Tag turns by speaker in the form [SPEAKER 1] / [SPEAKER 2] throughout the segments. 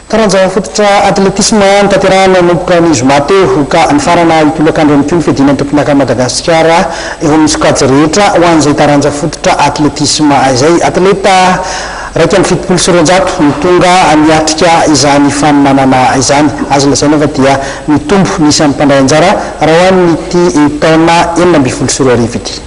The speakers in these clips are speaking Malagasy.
[SPEAKER 1] Taranja fototra atletisma notanterahina nanomboka ny zoma teo ka nifarana io tolakandro ihany koa ny fiadiana ny tompon'ankan'i Madagasikara eo amin'ny sokajy rehetra ho an'izay taranja fototra atletisma izay. Atleta iraika amby fitopolo sy roanjato no tonga niatrika izany fanomanana izany. Azo lazaina fa dia nitombo ny isan'ny mpandray anjara raha ho an'ity taona enina ambin'ny folo sy roa arivo ity.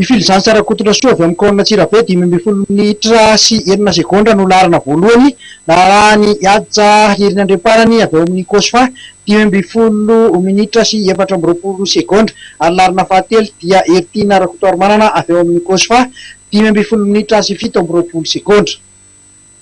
[SPEAKER 2] I Filizantsy Rakotorasoa avy amin'ny kaonina Antsirabe, dimy ambin'ny folo minitra sy enina segondra no laharana voalohany, narahan'i Hadja Irina Andriamparany avy ao amin'ny Cosfa, dimy ambin'ny folo minitra sy efatra amby roapolo segondra, ary ny laharana fahatelo dia Heritiana Rakotoarimanana avy ao amin'ny Cosfa, dimy ambin'ny folo minitra sy fito amby roapolo segondra.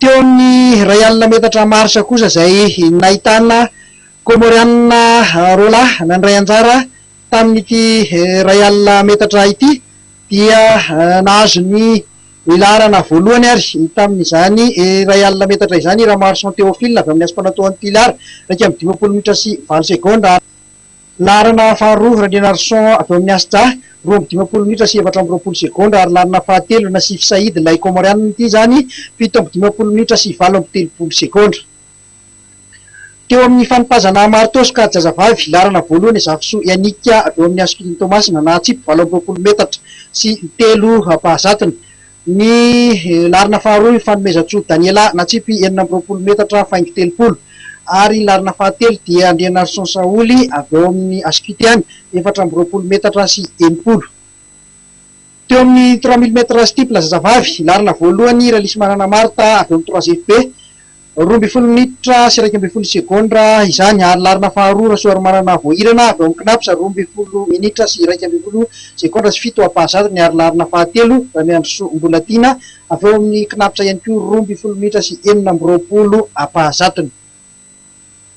[SPEAKER 2] Teo amin'ny iray alina metatra marsa kosa izay nahitana Kômôrianina roa lahy nandray anjara tamin'ity iray alina metatra ity dia nahazo ny laharana voalohany ary tamin'izany iray alina metatra izany i Ramarison Théophile avy amin'ny Aspanatô Antillard, iraika amby dimampolo minitra sy valo segondra. Laharana faharoa, Randrianarison avy ao amin'ny Asja, roa amby dimampolo minitra sy efatra amby roapolo segondra, ary laharana fahatelo, Nassif Said, ilay Kômôrianina ity izany, fito amby dimampolo minitra sy valo amby telopolo segondra. Teo amin'ny fanipazana marin-tosoka jazavavy, laharana voalohany, Zafisoa Yannick avy ao amin'ny Askilin Toamasina, nahatsipy valo amby roapolo metatra sy telo mpahazatony, Ny laharana faharoa io fanomezan-tsoa Daniela natsipy enina amby roapolo metatra faingo telopolo ary ny laharana fahatelo dia Andrianarison Saholy avy ao amin'ny Ascute any efatra amby roapolo metatra sy enimpolo teo amin'ny trois mille mètres steeple zazavavy, laharana voalohany Ralisy Manana Martha avy ao amin'ny trois FB, Roa ambin'ny folo minitra sy iraika ambin'ny folo segondra izany ary laharana faharoa Rasoarimanana Voahirana avy ao amin'ny Cnaps, roa ambin'ny folo minitra sy iraika ambin'ny folo segondra sy fito ampahazatony ary laharana fahatelo Ramiandrisoa Mbolatiana avy ao amin'ny Cnaps ihany koa, roa ambin'ny folo minitra sy enina amby roapolo ampahazatony.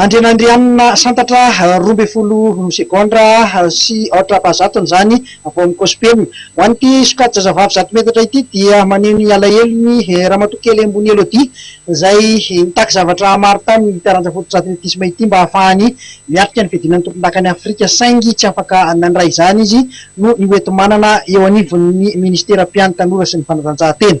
[SPEAKER 2] Andrianandrianina santatra roa ambin'ny folo segondra sy aotra apa zatony izany vao mikosi-penina. Ho an'ity sokajy-zazavavy zato metatra ity dia maneho ny alahelony Ramatoa Kely Ambony Elodie izay nitaky zavatra maro taminy ity taranja fotodratiletisma ity mba hahafahany miatrika ny fiadiana ny tompondakan'i Afrika saingy tsy afaka nandray izany izy noho ny hoenti-manana eo anivon'ny Ministeram-piany tanora sy ny fanatanjahantena.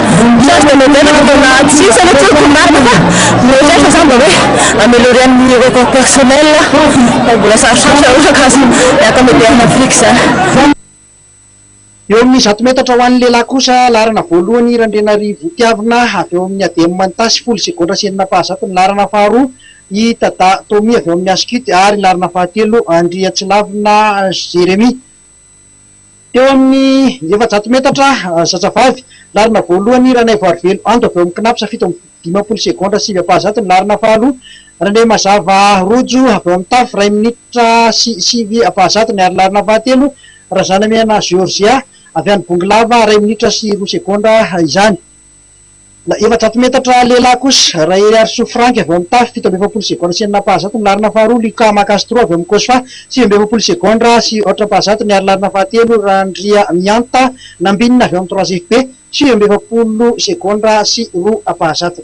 [SPEAKER 1] Sady dia modèle
[SPEAKER 3] vao nahatsitsy aloha tsy haiko marina fa mihoatra ahy fa za mba hoe améliorer amin'ny record personnel aho fa mbola sarosarotra raha ohatra ka azo miaraka moderne afrique zany.
[SPEAKER 2] Eo amin'ny zato metatra ho an'ny lehilahy kosa, laharana voalohany i Randrianarivotiavina avy ao amin'ny Adem Manta sy Folo Segondra sy Enina Ampahazato ny laharana faharoa, i Tada Tommy avy ao amin'ny Ascut ary laharana fahatelo Andriatsilavina Jérémie. Teo amin'ny efajato metatra zazavavy laharana voalohany, Ranaivoarivelo Ando avy ao amin'ny Cnaps fito amby dimampolo segondra sivy ampahazatony ny laharana faharoa, Randriamazava Rojo avy ao amin'ny Taff iray minitra sy sivy ampahazatony ary laharana fahatelo, Razanamiana Georgia avy any Bongolava iray minitra sy roa segondra izany. Na efajato metatra lehilahy kosa, Rahery Harisoa Franck avy ao amin'ny Taf, fito amby efapolo segondra sy enina ampahazato ny laharana faharoa, Lucas Makastro avy ao amin'ny Cosfa, sivy amby efapolo segondra sy aotra ampahazato ny ary laharana fahatelo, Randriamianta Nambinina avy ao amin'ny Trois FB, sivy amby efapolo segondra sy roa ampahazato.